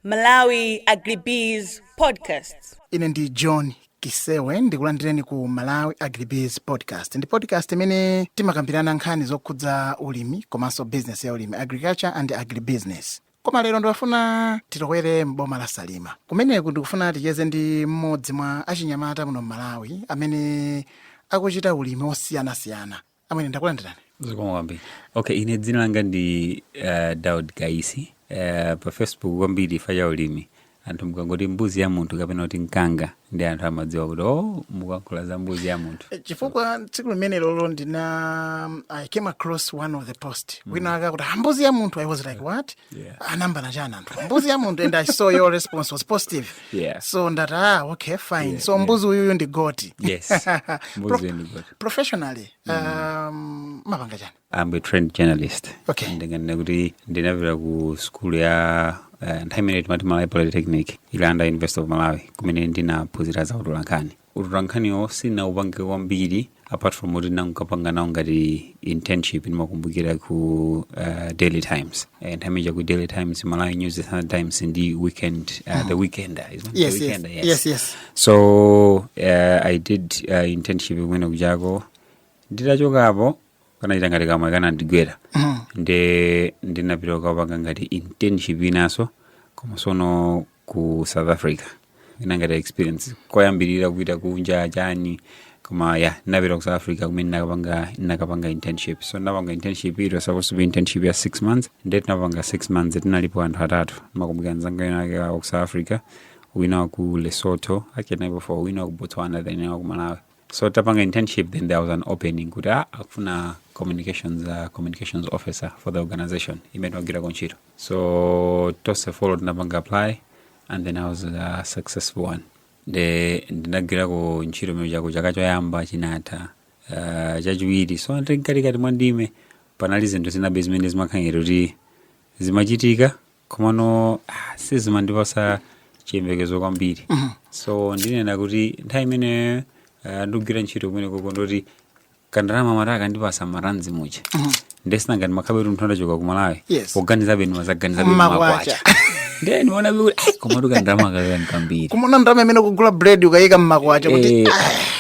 Malawi Agribees Podcasts. ine ndi john kisewe ndikulandireni ku malawi agribees podcast ndi podcast imene timakambirana nkhani zokhudza ulimi komanso business ya ulimi agriculture and agribusiness koma lero ndikufuna titokwere m'boma la salima kumeneku ndikufuna ticheze ndi mmodzi mwa achinyamata muno m'malawi amene akuchita ulimi osiyanasiyana amene ndakulandirani zikomo kwambiri okay ine dzina langa ndi uh, daud kaisi uh, pa facebook kwambiri ife a ulimi anthu mukangoti mbuzi ya munthu kapena kuti mkanga ndi anthu amadziwa kuti o oh, mukuyankhula za mbuzi ya munthu eh, chifukwa tsiku limene lolo ndina um, i came across one of the post mm. wina akuti ah, mbuzi ya munthu i was like what yeah. ayambana ah, chani anthu mbuzi ya munthu and i saw your response was positive yeah. so ndati ah okay fine yeah, so mbuzi uyuyu yeah. ndi goti yes mbuzi ndi goti professionally um, mapanga chani I'm a trained journalist Okay. ndinganena kuti ndinapita ku skulu ya eh, nthawi imene timati malawi polytechnic ili under university of malawi kumene ndinaphunzira za utolankhani utolankhaniwo sindinaupange kwambiri apart from kuti ndinakapanga nawo ngati internship ndimakumbukira ku uh, daily times Eh, nthawi imene ku daily times malawi news the Sunday times ndi weekend uh, the weekender isn't it? yes, the yes, weekender yes, yes. so uh, i did uh, internship kumene kujako nditachokapo kanangokhala ngati kamwe kamwayi kanandigwera nde ndinapita kukapanga ngati internship inanso koma sono ku south africa ina ngati experience koyambirira kupita kunja chani koma ya ndinapita ku south africa kumene nakapanga nakapanga internship so ndinapanga internship it was supposed to be internship ya six months nde tinapanga six months tinalipo anthu atatu makumbukira mzanga winawake wa ku south africa wina wa ku lesotho actually tinali four wina wa ku botswana then wina wa ku malawi so tapanga internship then there was an opening kuti ah, akufuna communications uh, communications officer for the organization imene timagwirako ntchito so tonse four tinapanga apply and then i was a successful one nde ndinagwirako ntchito kumene kujako chaka choyamba chinatha uh, chachiwiri so mkatikati mwa ndime panali zinthu zinabe zimene zimakhala ngati kuti zimachitika komano ah, sizimandipasa chiyembekezo kwambiri so ndinena kuti nthawi imene ah, ndikugwira ntchito kumene kuja ndi koti kandalama mara akandipasa maranzi muja nde si ngati umakhalabe munthu woti wachoka kumalawi Yes. kuganizabe ndimaganizabe Makwacha. makwacha nde ndiona kuti ai komatu kandalama akaka nkambiri kumaona ndalama imene kugula bread ukayika mmakwacha kuti Eh,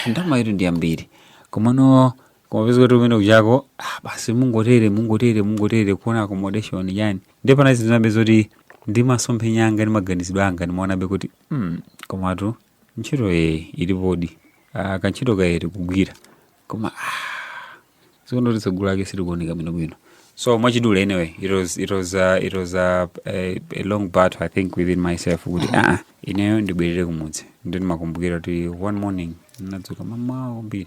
ndalama iyitu ndi yambiri komano koma pezeka kuti kumene kujako ah, basi mungotere mungotere mungotere kuona accommodation yani ndiye panali zinabe zoti ndi masomphenya anga ndi maganizidwe anga ndimaonabe kuti mm, komatu ntchito ye ilipodi ah, kantchito kaye ndikugwira koma ah, zikuoneka kuti tsogolo lake silikuoneka bwino bwino so mwachidule anyway it was, it was, uh, it was uh, a, a long battle i think within myself kuti aa ineyo ndibwerere kumudzi ndimakumbukira kuti one morning ndinadzuka mamawa kwambiri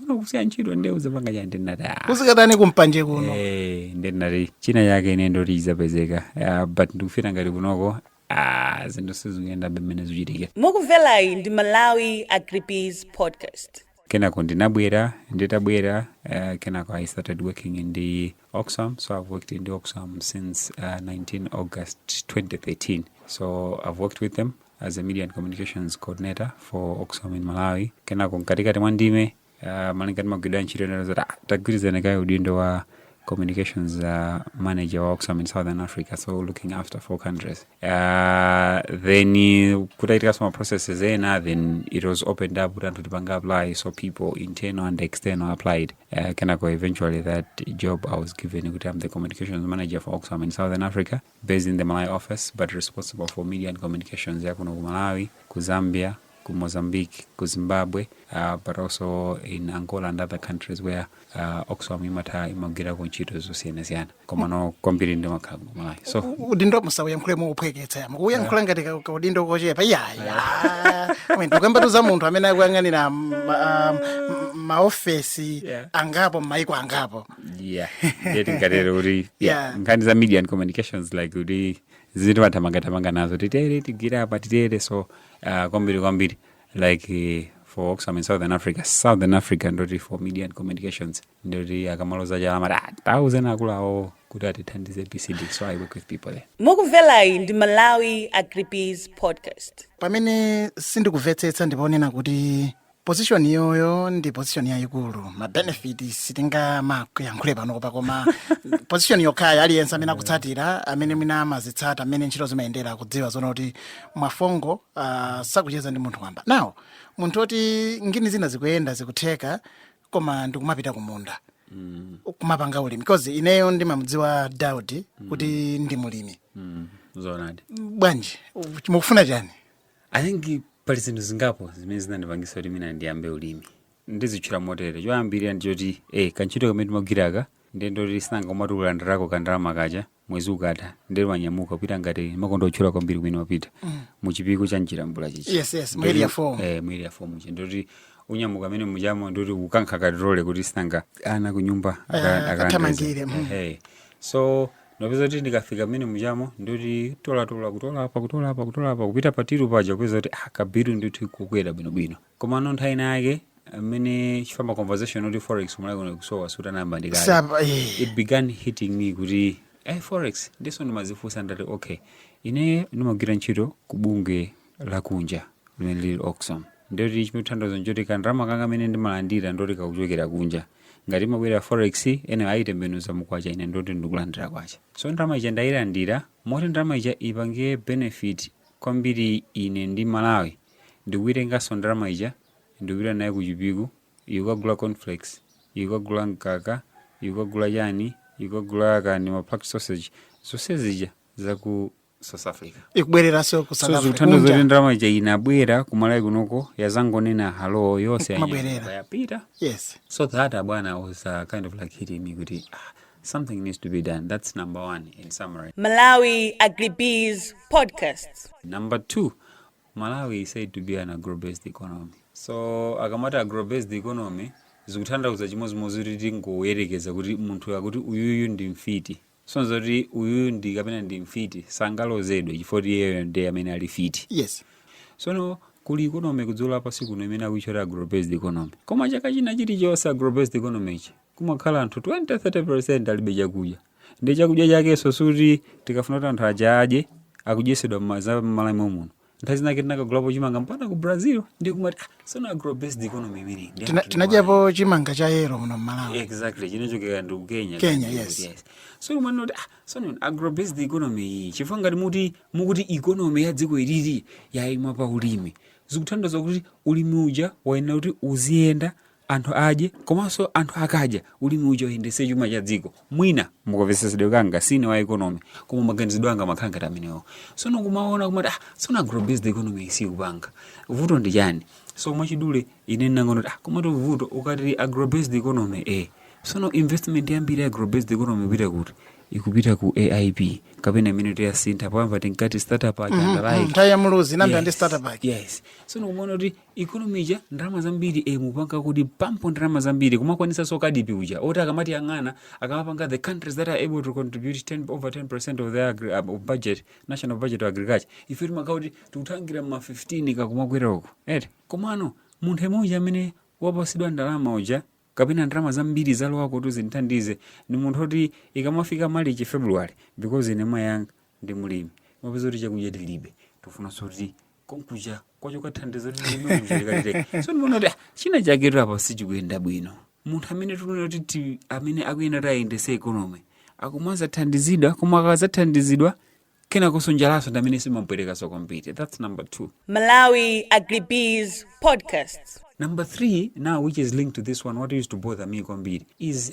kuno kusiya ntchito nde uzapanga chiyani ndinati "Ah, uzikatani kumpanje kuno eh, nde ndinati china chake ine ndoti izapezeka Ah, but ndikufeela ngati kunoko ah, zinthu sizikuyenda be mmene zichitikira mukumverayi ndi malawi agribiz podcast kenako ndinabwera nditabwera uh, kenako i started working in the oxfam so i've worked in the oxfam since uh, 19 august 2013 so i've worked with them as a media and communications coordinator for oxfam in malawi kenako mkatikati mwa ndime uh, malinga ndi magwiridwe a ntchito inena zoti ah, tagwirizirako kaye udindo wa communications uh, manager wa oxfam in southern africa so looking after four countries uh, then uh, kutachitikanso ma processes ena then it was opened up kuti anthu tipange apply so people internal and external applied uh, kenako eventually that job i was given kuti i'm the communications manager for oxfam in southern africa based in the Malawi office but responsible for media and communications ya kuno ku Malawi, ku Zambia, ku Mozambique, ku Zimbabwe, uh, but also in Angola and other countries where uh, Oxfam imatha imagwirako ntchito zosiyanasiyana komano kwambiri ndimakhala ku Malawi so U- udindo musauyankhule mouphweketsa iyayi mukuuyankhula ngati ka- ka udindo kochepa iyayi amene tikukambatu za munthu amene akuyang'anira ma- ah, m- maofesi Yeah. angapo m'maiko angapo yeah ndiye tingatere kuti yeah, Yeah. nkhani za media and communications like kuti zinthu timathamangathamanga nazo titere tigwire apa titere so uh, kwambiri kwambiri like eh, for oxfam in southern africa southern africa ndoti for media and communications ndoti akamaloza chala amati ah, tauzani akuluwo kuti atithandize pcd so i work with people there mukumverayi ndi malawi agribiz podcast pamene sindikumvetsetsa ndiponena kuti position iyoyo ndi position yayikulu mabenefit sitingamayankhule panopa koma position yokhayo aliyense amene akutsatira amene mwina amazitsata mmene ntchito zimayendera akudziwa zoona kuti mwafongo ah, sakucheza ndi munthu wamba now munthu oti ngini zina zikuyenda zikutheka koma ndikumapita kumunda kumapanga ulimi because ineyo ndimamudziwa daudi kuti ndi mulimi zoonadi bwanji mukufuna chani I think pali zinthu zingapo zimene zinandipangisa kuti mwina ndiyambe ulimi ndizitchula motere choyambirira ndi choti eh, kantchito kamene timagwiraka ndiye ndoti sinanga umati ulandirako kandalama kaja mwezi ukatha ndiye wanyamuka kupita ngati mumakonda kutchula kwambiri kumene wapita mu chipiku cha mchilambula chichi Yes, yes, mu area four. eh, mu area four muja ndoti unyamuka mmene mujamo ndoti ukankha katirole kuti sinanga ana kunyumba aka- Eh, akalandeze. akathamangire, mm. Eh, hey. so Ndapeza kuti ndikafika mmene mujamo ndoti tolatola kutola apa kutola apa kutola apa kupita pa tiru paja kupeza kuti ah, kabiru ndithu kukwera bwinobwino komano nthawi ina yake mmene ikufamba conversation kuti forex m'Malawi muno kusowa siinayambe ndikale Sapa, eh. it began hitting me kuti eh, forex ndiye so ndimadzifunsa ndati okay ine ndimagwira ntchito kubungwe lakunja limene lili Oxfam ndiye kuti chimatanthauza nchoti ka ndalama kanga kamene ndimalandira ndoti kakuchokera kunja ngati imabwera forex eni ayitembenuza mukwacha ine ndoti ndikulandira kwacha so ndalama ija ndayilandira moti ndalama ija ipange benefit kwambiri ine ndi malawi ndikuitenganso ndalama ija ndikupita nayo ku chipiku kukagula cornflakes kukagula mkaka kukagula chani kukagula kani ma packed sausage zonse zija zaku south africa ikubwereranso ku South Africa. so zikutanthauza Kunja. kuti ndalama ija inabwera kumalawi kunoko yazangonena halo yonse Imabwerera. yanyamuka yapita yes so that abwana was uh, kind of like hitting me kuti ah, something needs to be done that's number one in summary Malawi Agribiz Podcast. number two malawi is said to be an agrobased economy so akamati agrobased economy zikutanthauza chimodzimodzi kuti tingoyerekeza kuti munthu akuti uyuyu ndi mfiti so ndiye kuti uyuyu ndi kapena ndi mfiti sangalozedwe chifukwa kuti iyeyo ndi amene ali mfiti yes sono kuli economy kudziko lapansi kuno imene akuitchula agrobased economy koma chaka china chilichonse agrobased economy ichi kumakhala anthu 20-30% alibe chakudya ndi chakudya chakenso sikuti tikafuna kuti anthu aja adye akudyesedwa m'maza- m'malawi muno nthawi zinake tinakagulapo chimanga mpaka ku brazil ndi kumati ah, sono agro based economy imene ndi Tina- anthu tinadyapo chimanga cha yero muno mmalawi exactly chinachokera ndi ku kenya Kenya, Yes, yes. yes. so umanena kuti ah, sono agro based economy iyi chifukwa ngati muti mukuti economy ya dziko ilili yayima pa ulimi zikutanthauza kuti ulimi uja wayenera kuti uziyenda anthu adye komanso anthu akadya ulimi uja uyendetse chuma cha dziko mwina mukamvetsetsedwe kanga sine wa economy koma maganizidwe anga amakhala ngati amenewo sono kumaona kumati ah sono agrobased economy isikupanga vuto ndi chani so mwachidule ine ndinangoona kuti ah komatu vuto ukati agrobased economy eh sono investment yambiri ya agrobased economy ikupita kuti ikupita ku aip kapena imene tinayisintha poyamba tinkati starter pack ija andalaike nthawi ya muluzi inayambira ndi starter pack yes so ndikumaona kuti economy ija ndalama zambiri eh, mukupanga kupampa ndalama zambiri kumakwanisanso CAADP uja oti akamatiyang'ana akamapanga the countries that are able to contribute 10, over 10 percent of their agri, um, of budget national budget to agriculture ife timakhala kuti tikuthangira ma 15 kakumakwera uko eti komano munthu yemwe uja amene wapatsidwa ndalama uja kapena ndalama zambiri zalowa kuti zimthandize ndi munthu oti ikamafika malichi february because ine mayi anga ndi mulimi umapeza kuti chakudya tilibe tifunanso kuti konkuja kwachoka thandizo limemuchaikalire so ndimaona kuti ah, china chake apa sichikuyenda bwino munthu amene tikuona kuti ti- amene akuyenera kuti ayendetse economy akumadzathandizidwa koma akadzathandizidwa kenakonso njalanso ndi amene imampwetekanso kwambiri that's number two Malawi Agribiz Podcast. Number three, now which is linked to this one, what used to bother me kwambiri is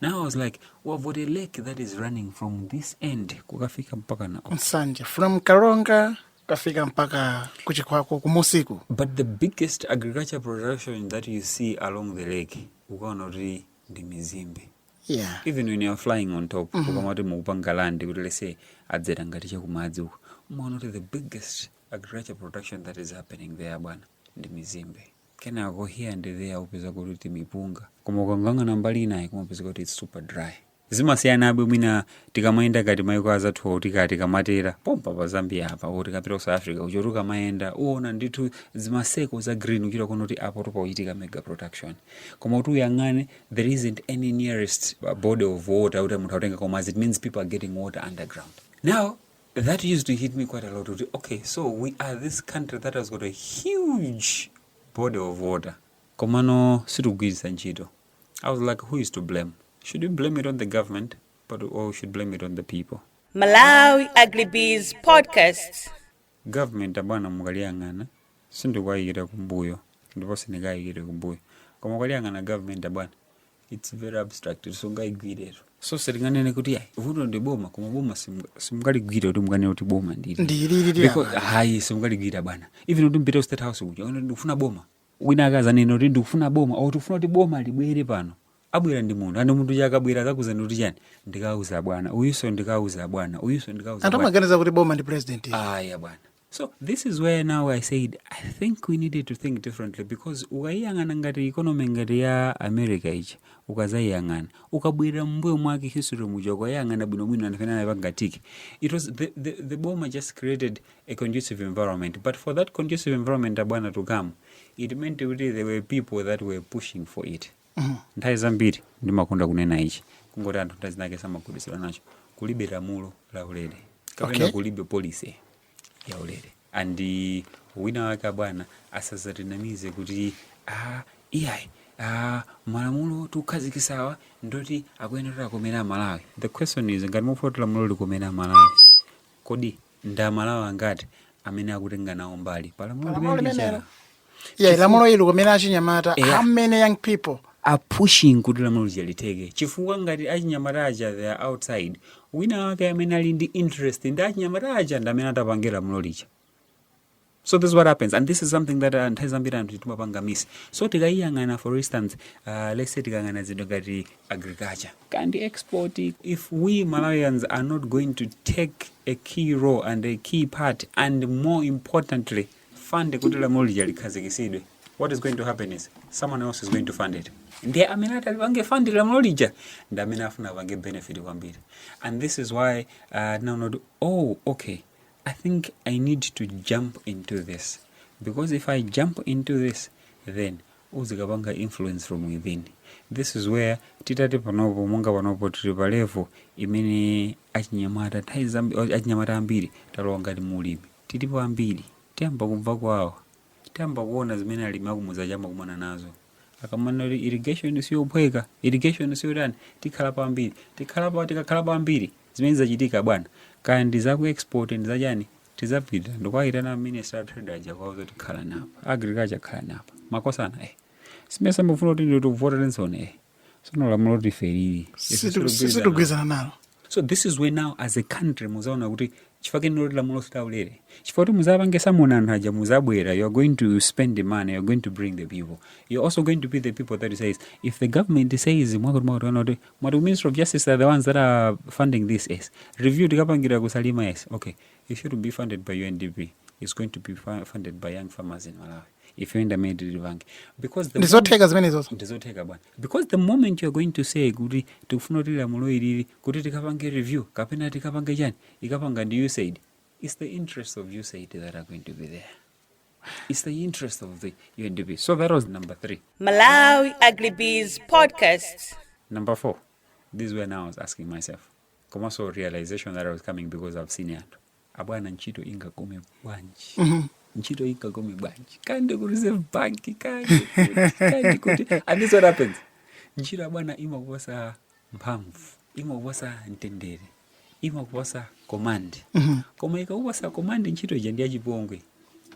Now I was like, we've got a lake that is running from this end kukafika mpakana Nsanje from Karonga kukafika mpaka ku Chikwawa kumunsi uku But the biggest agriculture production that you see along the lake ukaona kuti ndi mizimbe yeah even when you're flying on top ukamati mukupanga land kuti let's say adzera ngati chakumadzi uko umaona kuti the biggest agriculture production that is happening there bwana ndi mizimbe kenako here and there upeza kuti timipunga koma ukayang'ana mbali inayi kumapeza kuti it's super dry zimasiyana be mwina tikamayenda kuti maiko anzathuwa tikati tikamatera pompa pa zambia apa or tikapita ku south africa uchoti ukamayenda uona ndithu zima circle za green uchita kuona kuti apatu pakuchitika mega production koma kuti uyang'ane there isn't any nearest body of water kuti munthu akutenga koma as it means people are getting water underground now That used to hit me quite a lot kuti okay so we are this country that has got a huge body of water komano sitikugwiritsa ntchito. I was like who is to blame? Should we blame it on the government but or we should blame it on the people? Malawi Agribiz Podcast. Government abwana mukaliyang'ana sindikuwayikira kumbuyo ndipo sindikayikire kumbuyo koma ukaliyang'ana government abwana it's very abstract sungaigwiretu so sindinganene kuti ayi vuto ndi boma koma boma simu- simungaligwire kuti munganene kuti boma ndili ndilili Because- lili apa ayi simungaligwire bwana even kuti mupite ku state house kuja kuti ndikufuna boma wina akadzanena kuti ndikufuna boma or tikufuna kuti boma libwere pano abwera ndi munthu and munthu uja akabwera akakuuzani kuti chani ndikauza bwana uyuso ndikauza bwana uyuso ndikauza anthu bwana amaganiza kuti boma ndi president ayi bwana so this is where now i said i think we needed to think differently because ukayiyang'ana ngati economy ngati ya america ichi ukadzayiyang'ana ukabwera mumbuyo mwake history muja ukayiyang'ana bwinobwino anthu amene anaipanga tick it was the, the, the boma just created a conducive environment but for that conducive environment abwana to come it meant kuti there were people that were pushing for it Nthawi zambiri ndimakonda kunena ichi kungoti anthu nthawi zinake samagwirizana nazo kulibe lamulo la ulere kapena Okay. kulibe policy ya ulere and wina wake abwana asazatinamize kuti ah, iyayi ah, malamulo tikukhazikitsawa ndoti akuyenera akomere amalawi the question is ngati mufuna kuti lamulo likomere amalawi kodi ndi amalawi angati amene akutenga nawo mbali pa lamulo Palamulo limeneli limenelo. cha yeah lamulo likomere achinyamata Yeah. how many young people are pushing kuti lamulo lija litheke chifukwa ngati achinyamata aja they are outside wina wake amene ali ndi interest ndi achinyamata aja ndi amene atapange lamulo lija so this is what happens and this is something that uh, nthawi zambiri anthu timapanga miss so tikayiyang'ana for instance uh, let's say tikang'ana zinthu ngati agriculture kaya ndi export if we malawians are not going to take a key role and a key part and more importantly fund kuti lamulo lija likhazikisidwe what is going to happen is someone else is going to fund it ndiye amene atalipange fund lamulo lija ndi amene afuna apange benefit kwambiri and this is why uh, now not oh okay I think I need to jump into this because if I jump into this then uzikapanga influence from within this is where titati panopo monga panopo tili pa level imene achinyamata nthawi zambi- achinyamata ambiri talowa ngati mulimi tilipo ambiri tiyamba kumva kuwawa tiyamba kuona zimene alimi akumudzi aja amakumana nazo akamanena kuti irrigation siyophweka irrigation siyotani tikhalapo ambiri tikhalapo tikakhalapo ambiri Zimene zizachitika bwana, kaya ndi za ku export ndi za chani, tizapita ndikuwaitana a minister a trade aja kuwauza kuti khalani apa, agriculture khalani apa, makosana eh si mmesa mufuna kuti tikuvotereninso eh sono lamulo loti ife ilili ife Situ- sitigwirizana. sitigwirizana nalo so this is where now as a country muzaona kuti chifukwa chake ndi loti lamulo silaulere chifukwa kuti muzapange summon anthu aja muzabwera you are going to spend the money you are going to bring the people you are also going to be the people that says if the government says mwakuti mwakuti kana kuti mwati ku ministry of justice are the ones that are funding this yes review tikapangira ku salima yes okay it shouldn't be funded by undp it's going to be fu- funded by young farmers in malawi ife ndamene tilipange because the ndizotheka zimenezozo ndizotheka bwana because the moment you are going to say kuti tikufuna kuti lamulo ilili kuti tikapange review kapena tikapange chani ikapanga ndi usaid its the interest of usaid that are going to be there It's the interest of the UNDP. So that was number three. Malawi Agribiz Podcast. Number four, this is when I was asking myself, komanso realization that I was coming because I've seen it. Abwana ntchito ingakome bwanji? Mm-hmm. Ntchito ingakome bwanji? Kaya ndi ku reserve bank kaya ndi kuti kaya ndi kuti. And this what happens. Ntchito abwana imakuposa mphamvu imakupatsa mtendere imakupatsa command mhm. koma ikakupatsa command ntchito ija ndi yachipongwe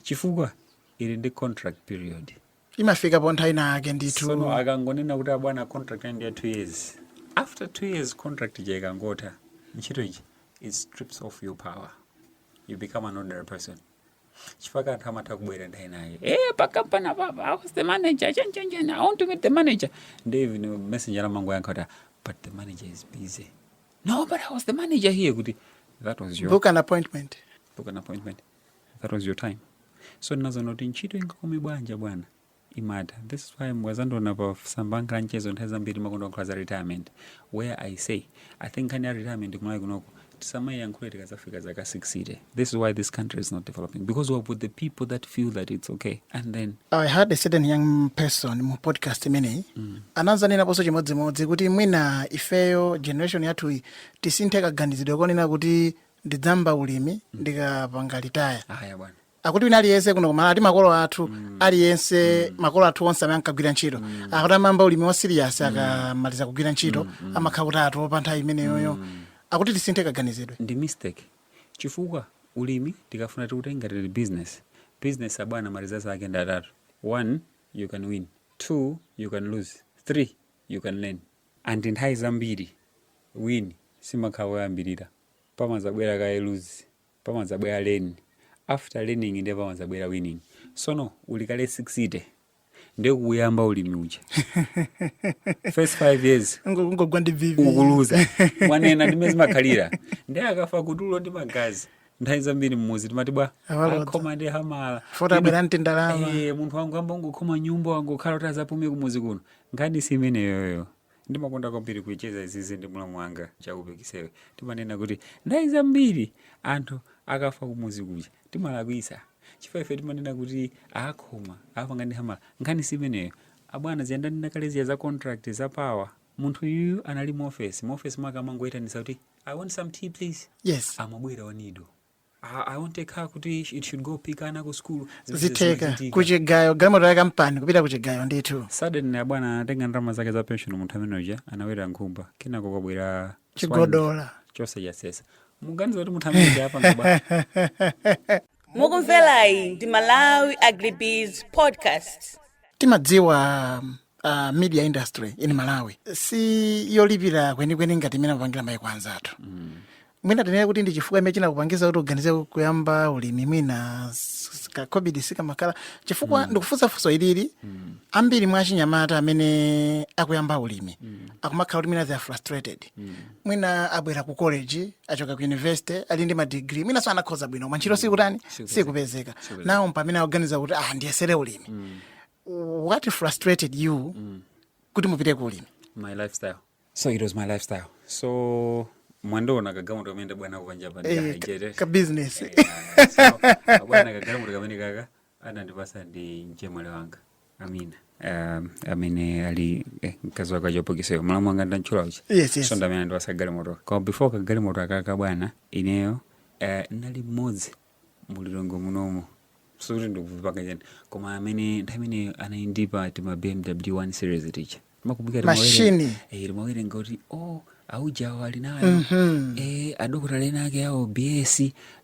chifukwa ili ndi contract period imafika po nthawi ina yake ndithu sono akangonena kuti abwana contract ndi ya two years after two years contract ija ikangotha ntchito ija it strips off your power you become an ordinary person chifukwa anthu amatha kubwera ndayenayo eh pakampani apapa i was the manager chanichani i want to meet the manager ndi even messenger amangoyankha kuti but the manager is busy no but i was the manager here kuti that was your book an appointment book an appointment that was your time so ndinaziona kuti ntchito ingakome bwanji bwana imatha this is why mukazandiona pa masamba anga a mchezo nthawi zambiri ndimakonda kukamba za retirement where i say i think nkhani ya retirement ku Malawi kunoko tisamayiyankhule tikazafika zaka 60 this is why this country is not developing because we have put the people that feel that it's okay and then I had a certain young person mu podcast imeneyi mm. anazanenaponso chimodzimodzi kuti mwina ifeyo generation yathuyi tisinthe kaganizidwe konena kuti ndidzamba ulimi ndikapanga retire aa bwana akuti wina aliyense kuno ku Malawi ati makolo athu aliyense makolo athu onse amene ankagwira ntchito akuti amayamba ulimi wa serious akamaliza kugwira ntchito amakhala kuti atopa nthawi imeneyoyo akuti tisinthe kaganizidwe ndi mistake chifukwa ulimi tikafuna tiutenge ngati business business abwana ma result ake ndi atatu one you can win two you can lose three you can learn and nthawi zambiri win simakhala koyambirira pamazabwera kaye lose pamadzabwera learn after learning ndiye pamadzabwera winning sono uli kale 60 ndiye kuyamba ulimi uja first 5 years ungogwa ndi BP ukuluza mwanena ndimene zimakhalira ndiye akafa kutuluka ndi magazi nthawi zambiri mmuzi timati bwa Awalodza. akhoma ndi hamala Futi abwera ndi ndalama. Eh, munthu wangoyamba wangokhoma nyumba wangokhala kuti azapume kumuzi kuno nkhani si imeneyoyo Ndimakonda kwambiri kucheza izizi ndi mlamu wanga Chakupe Kisewe. Timanena kuti nthawi zambiri anthu akafa kumuzi kuja timalakwitsa chifukwa ife timanena kuti akhoma apanga ndi hamala. Nkhani si imeneyo abwana, zija ndanena kale zija za contract za power. Munthu yuyu anali mu ofesi, mu ofesi mwake amangoyitanitsa kuti I want some tea please, Yes. amabwera I need a zitheka kuchigayo galimoto ya kampani kupita kuchigayo ndithu suddenly abwana anatenga ndalama zake za pension munthu amene uja anaweta nkhumba kenako kwabwera chigodola chonse chasesa muganiza kuti munthu amene uja apanga bwa mukumverayi ndi malawi agribusiness podcast timadziwa uh, media industry in malawi si yolipira kwenikweni ngati imene amapangira maiko anzathu mm. mwina tinene kuti ndi chifukwa imene chinakupangiza kuti uganize kuyamba ulimi mwina s- s- ka covid sikamakhala chifukwa ndikufunsa funso ili ambiri mwa achinyamata amene akuyamba ulimi akumakhala kuti mwina they are frustrated mwina abwera ku college achoka ku university ali ndi madigiri mwinanso anakhoza bwino koma ntchito sikutani sikupezeka ndiye mpamene akuganiza kuti ah ndiyesere ulimi what frustrated you kuti mupite ku ulimi my lifestyle so it was my lifestyle so mwandiona kagalimoto kamene ndabwera nako panjapa Eh, ndikahajere. ka- ka business. Eh, ah, so, bwana kagalimoto kamene kaka anandipasa ndi mchemwali wanga Amina Um, amene ali eh, mkazi wake achopokiseyo mulamu wanga ndantchula uja Yes, yes. so ndamene anandipasa galimoto koma before kagalimoto akaka bwana ineyo eh, nali mmodzi mu Lilongwe munomo sikuti ndikuvipanga chani koma amene nthawi imene anali ndi tima BMW 1 series tija Machine. timawerenga kuti o aujawo ali nayo eh, adokotala ena ake awo bs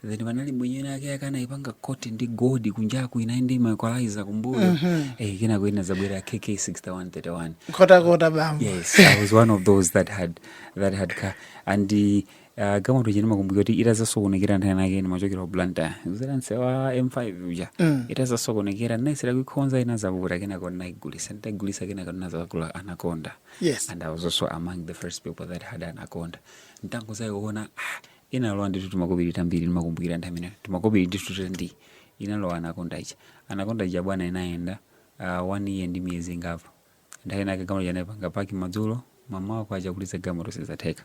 then panali mwenye ena ake anaipanga koti ndi gold kunjaku inali ndi maequalizer kumbuyo eh, kenako inazabwera KK 6131 Nkhotakota bambo yes i was one of those that had that car and uh, Ah, galimoto ija ndimakumbukira kuti itazasokonekera nthawi inake ndimachokera ku Blantyre kuzera nseu wa M5 uja itazasokonekera ndinayesera kuikhonza inazavuta kenako ndinaigulisa nditaigulisa kenako ndinazakagula anaconda Yes. and i was also among the first people that had anaconda nditangozaiona ah, inalowa ndithu timakobiri tambiri ndimakumbukira nthawi imeneyo timakobiri ndithu tandi inalowa anaconda ija anaconda ija bwana inayenda ah, one year ndi miyezi ingapo nthawi inake galimoto ija ndinaipanga paki madzulo mamawa kukacha kuliza galimoto sizatheka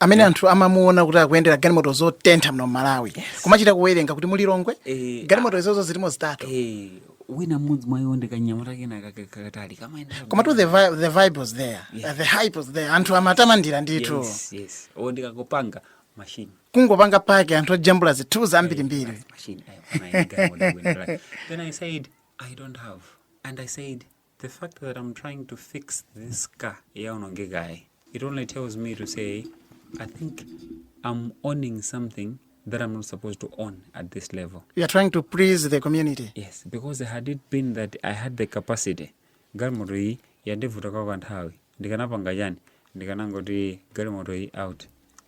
amene anthu amamuona kuti akuyendera galimoto zotentha muno m'Malawi kumachita kuwerenga kuti mu Lilongwe eh, galimoto izozo zilimo zitatu eh, wina mmodzi mwa iwo ndikanyamata kena kakatali koma to the, vi the vibe was there yeah. the hype was there anthu amatamandira ndithu yes, yes. o ndikakopanga machine kungopanga pake anthu ojambula zinthu zambirimbiri eh, then i said i don't have and i said The fact that I'm trying to fix this car yaonongekayi, it only tells me to say, I think I'm owning something that I'm not supposed to own at this level. You are trying to please the community. Yes, because had it been that I had the capacity, galimoto iyi yandivuta kwa kanthawi, ndikanapanga chani, ndikanangoti galimoto iyi out,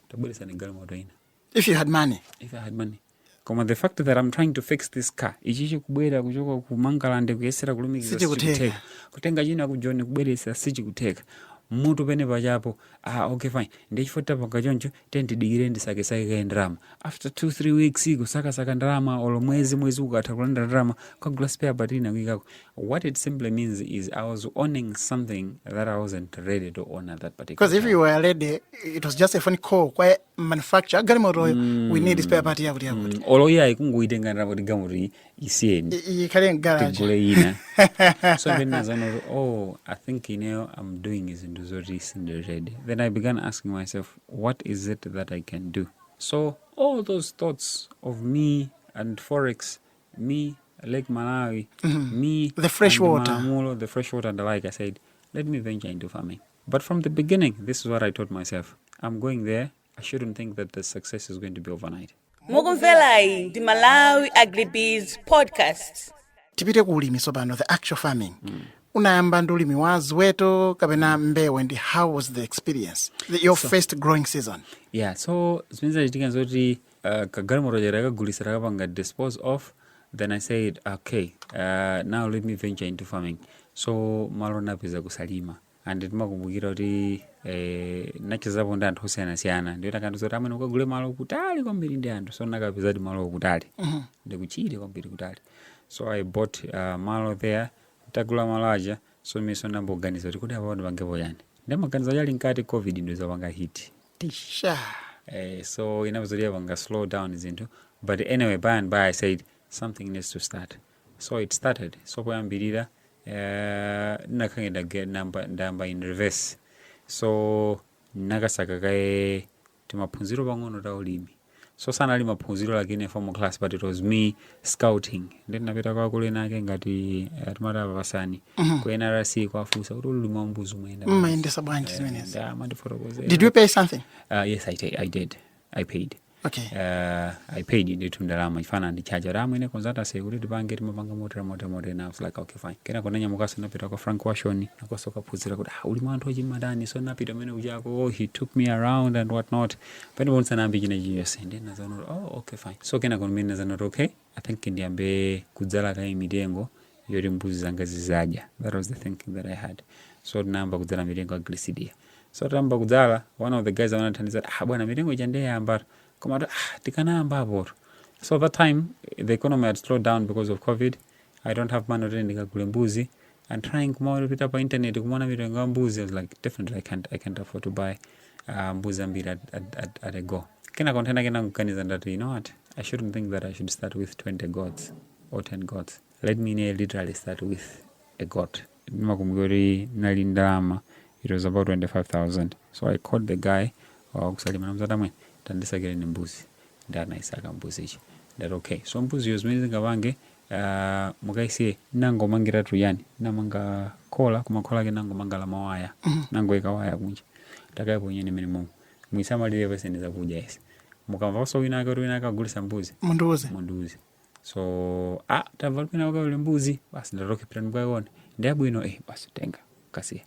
tabweresani galimoto ina. if you had money if i had money koma the fact that i'm trying to fix this car ichi chikubwera kuchoka ku Mangalande kuyesera kulumikiza Sichikutheka. sichikutheka kutenga china ku Joni kubweresa sichikutheka mutu penapake apo ah, okay fine ndiye poti tapanga choncho tiye ndidikire ndisakesake kaye ndalama after two three weeks kusakasaka ndalama olo mwezi mwezi ukatha kulandira ndalama kukagula spare part ina kuikako what it simply means is i was owning something that i wasn't ready to own at that particular because if time. you were ready it was just a phone call kwa manufacture galimotoyo mm. we need spare part yakuti yakuti mm. olo iyayi kungoyitenga ndalapo ti galimoto isiyeni ikhale mgaraji tigule ina so then nazanoti oh i think ineyo i'm doing zinthu zoti sindiredi then i began asking myself what is it that i can do so all those thoughts of me and forex me lake malawi mm -hmm. me the fresh water Mamulo, the fresh water and the like i said let me venture into farming But from the beginning, this is what I told myself. I'm going there. I shouldn't think that the success is going to be overnight. mukumverayi ndi Malawi Agribusiness podcast tipite ku ulimi tsopano the actual farming unayamba ndi ulimi wa ziweto kapena mbewu ndi how was the experience the, your first growing season Yeah, so zimene zinachitika zoti uh, kagalimoto chati takagulisa takapanga dispose of then i said okay uh, now let me venture into farming so malo napeza kusalima and timakumbukira kuti eh, nachezapo ndi anthu osiyanasiyana ndiyo tikandiuza kuti amwene ukagule malo kutali kwambiri ndi anthu so nakapezadi malo kutali ndikuchire kwambiri kutali so i bought uh, malo there tagula malo aja so ndiye ndayamba kuganiza kuti kuti apapa ndipangepo chani ndimaganiza chali mkati covid inazapanga hit Tisha. Eh, so inavuta ndiye inapanga slow down zinthu but anyway by and by i said something needs to start so it started so poyambirira uh, ndinakhange ndage- ndamba- ndayamba in reverse so ndinakasaka kaye timaphunziro pang'ono ta ulimi so sanali maphunziro like in a formal class but it was me scouting ndi ndinapita kwa akulu ena ake ngati atimati apapasani ku nrc kwafunsa kuti ulimi wa mbuzi umayenda bwanji? mmayendesa bwanji Eh, zimenezi ndiye amandifotokozera. did you pay something Uh, yes I, ta- I did i paid okay uh, i paid ndithu ndalama chifukwa anandichaja kuti amwene konzatase kuti tipange timapanga motera motera motera na I was like okay fine kena ndinanyamukaso napita kwa frank washoni nakonso kukaphunzira kuti ah, ulimi wa nthochi amatani so napita kumene kujako oh, he took me around and what not pamenepo ndisanayambe china chilichonse ndiye ndinazaona kuti oh okay fine so kenako ndimene ndinazaona kuti okay i think ndiyambe kudzala kaye mitengo yoti mbuzi zanga zizadya that was the thinking that i had so tinayamba kudzala mitengo ya gliricidia so tayamba kudzala one of the guys amene amandithandiza kuti, ah bwana mitengo ija ndiye yayambatu koma mbuzi, ah tikanayambapotu so that time the economy had slowed down because of covid i don't have money kuti ndikagule mbuzi and trying kumawera pita pa internet kumaona mitengo ya mbuzi I was like definitely I can't, I can't afford to buy uh, mbuzi ambiri at, at, at, at a go kena container kena kuganiza ndati you know what I shouldn't think that I should start with 20 goats or 10 goats let me near literally start with a goat ndimakumbuka kuti nali ndalama it was about 25000 so I called the guy wakusalima namzata mwene tandisakire ni mbuzi ndi anayisaka mbuzi ichi ndati okay so mbuziyo zimene zingapange Aaa mukaisiye nangomangiratu chani namanga khola koma khola lake nangomanga la mawaya nangoika waya kunja takaiponyeni mmenemomo muisamalire muipatse zakudya ndiye mukamvanso wina ake kuti wina ake akugulisa mbuzi mundiuze mundiuze so ah tamva kuti wina ake ali ndi mbuzi basi ndati okay pitani mukaione ndi yabwino eh basi tengani kasiyeni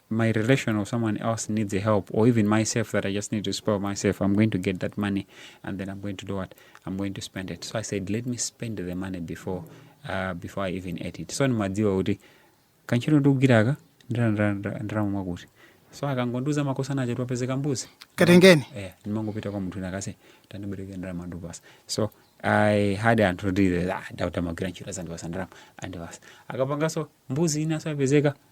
my relation or someone else needs a help or even myself that I just need to spoil myself, I'm going to get that money and then I'm going to do what? I'm going to spend it. So I said, let me spend the money before uh, before I even ate it. So ndimadziwa kuti kantchito ndikugwiraka ndalama mwakuti mwakuti so akangondiuza makosana cho kwapezeka mbuzi katengeni yeah, ndimangopita kwa munthu wina wake ase tandibereke ndalama ndikupasa so i had anthu kuti ah, tawagwirira ntchito azandipasa ndalama andipasa akapanganso mbuzi inaso yapezeka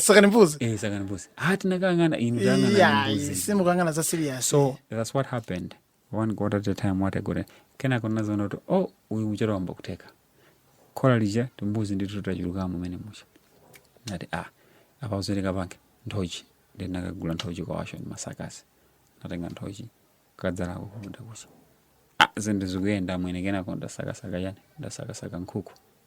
sakani mbuzi eh sakani mbuzi ah tinakangana inu tangana iya mbuzi simukangana za serious so that's what happened one got at a time what i got kena kona zono to oh uyu mchero wamba kuteka kola lija timbuzi ndi tutachuluka mumene mucha nati ah apa uzeleka pange nthochi ndi nakagula nthochi kwa washo ndi masakasi natenga nthochi kadzala ko kumuda kucha ah zende zikuyenda mwene kena konda sakasaka yani ndasakasaka nkhuku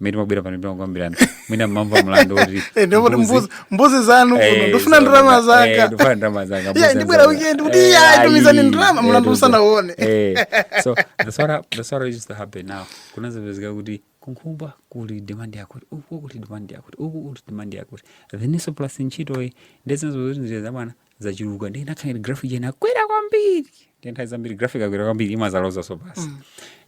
mmene timabwera pano timakambirana mwina ndimamva mlandu woti Eh, ndipo kuti mbuzi- mbuzi zanu kuno Eh, ndifuna so- ndalama eh, zanga ndifuna ndalama zanga, Yeah, mbuzi ndibwera zanga. weekend kuti Eh, iya ayi, tumizani ndalama eh, mlandu tumizani. usanauone Eh, so that's what hap- that's what used to happen now kunazapezeka kuti kunkhumba kuli demand yakuti uku kuli demand yakuti uku kuli demand yakuti then ndiyeso plus ntchitoyi ndezinazo kuti njira zabwana zachuluka ndiye inakhala ngati graph ija inakwera kwambiri ndiye nthawi zambiri graph ikakwera kwambiri imazalozaso pansi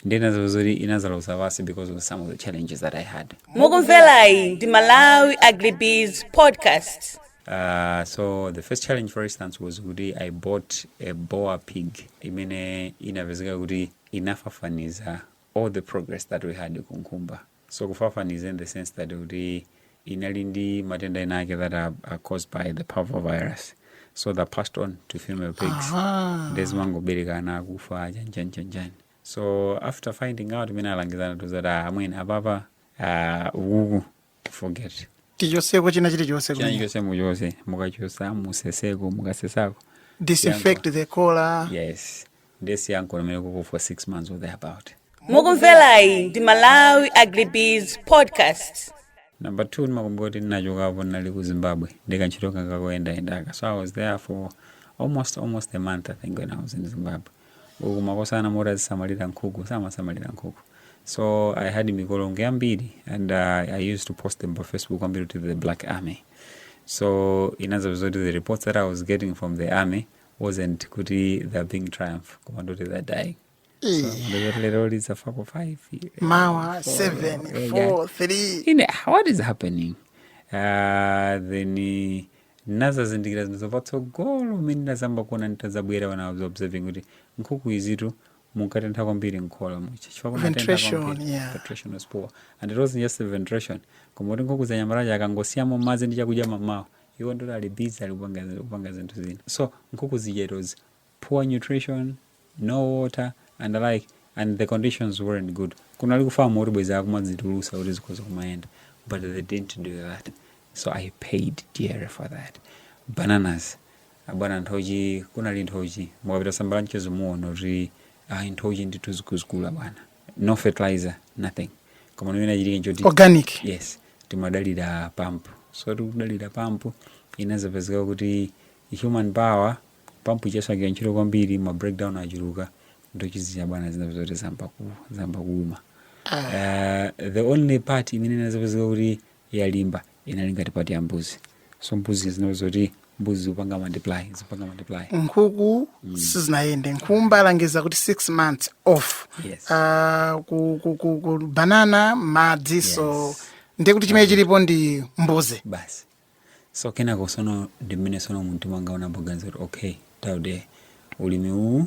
ndiye inazapezeka kuti inazaloza pansi because of some of the challenges that i had mukumverayi ndi malawi agribiz podcast Uh, so the first challenge for instance was kuti i bought a boar pig imene inapezeka kuti inafafaniza all the progress that we had kunkhumba So kufafaniza in the sense that kuti inali ndi matenda enaake that are, are caused by the parvovirus so they're passed on to female pigs Aha. ndiye zimangobereka ana akufa aja njani njani njani so after finding out mmene alangizi anatiuza kuti amwene apapa ah, ukuku forget tichoseko china chilichonse china kumene. chonse muchotse mukachotsa museseko mukasesako disinfect the khola yes ndiye musiyeko komweko for six months or thereabout mukumverayi ndi malawi agribiz podcast number two ndimakumbuka kuti ndinachokapo ndinali ku zimbabwe ndikantchito kanga koyendayendaka so i was there for almost almost a month i think when i was in zimbabwe uku makosana oti azisamalira nkhuku samasamalira nkhuku so i had mikolongo yambiri and uh, i used to post them pa facebook kwambiri to the black army so inazapezeka kuti the reports that i was getting from the army wasn't kuti they're being triumph koma ndoti they're dying so Eh, ndiye zoti lero zafako 5 mawa 7 4 3 ine ah, what is happening uh, then eh, nazazindikira zinthuzo patsogolo mmene ndazamba kuona nditazabwera when i was observing kuti nkhuku izitu munkatentha kwambiri mkhola muja chifukwa kunatentha Ventilation, kwambiri. yeah. Ventilation was poor and it wasn't just the ventilation koma kuti nkhuku anyamata aja akangosiyamo madzi ndi chakudya mamawa iwo ndoti ali busy ali kupanga kupanga zinthu zina so nkhuku zija it was poor nutrition no water and the like and the conditions weren't good kunali kufamu kuti bwezi akumazitulutsa kuti zikhoza kumayenda but they didn't do that so i paid dear for that bananas abwana nthochi kunali nthochi mukapita Zambara m'mwezo muona kuti ayi nthochi ndithu zikukula bwana no fertilizer nothing koma chimene chinachitika nchoti organic yes timadalira pampu so tikudalira pampu inazapezeka kuti human power pampu ija siikugwira ntchito kwambiri ma breakdown achuluka nthochi zija bwana zinapezeka kuti zamba ku- zamba kuuma uh, the only part imene inazapezeka kuti yalimba inali ngati part ya mbuzi so mbuzi zinali zoti mbuzi zikupanga multiply zikupanga multiply nkhuku sizinayende nkhumba alangiza kuti six months off Yes. Ah, ku, ku, ku, ku banana madzi so Yes. ndiye kuti chimene chilipo ndi mbuzi basi so kenako sono ndi mmene sono mumtima mwanga ndinayamba kuganiza kuti okay Daud ulimi uwu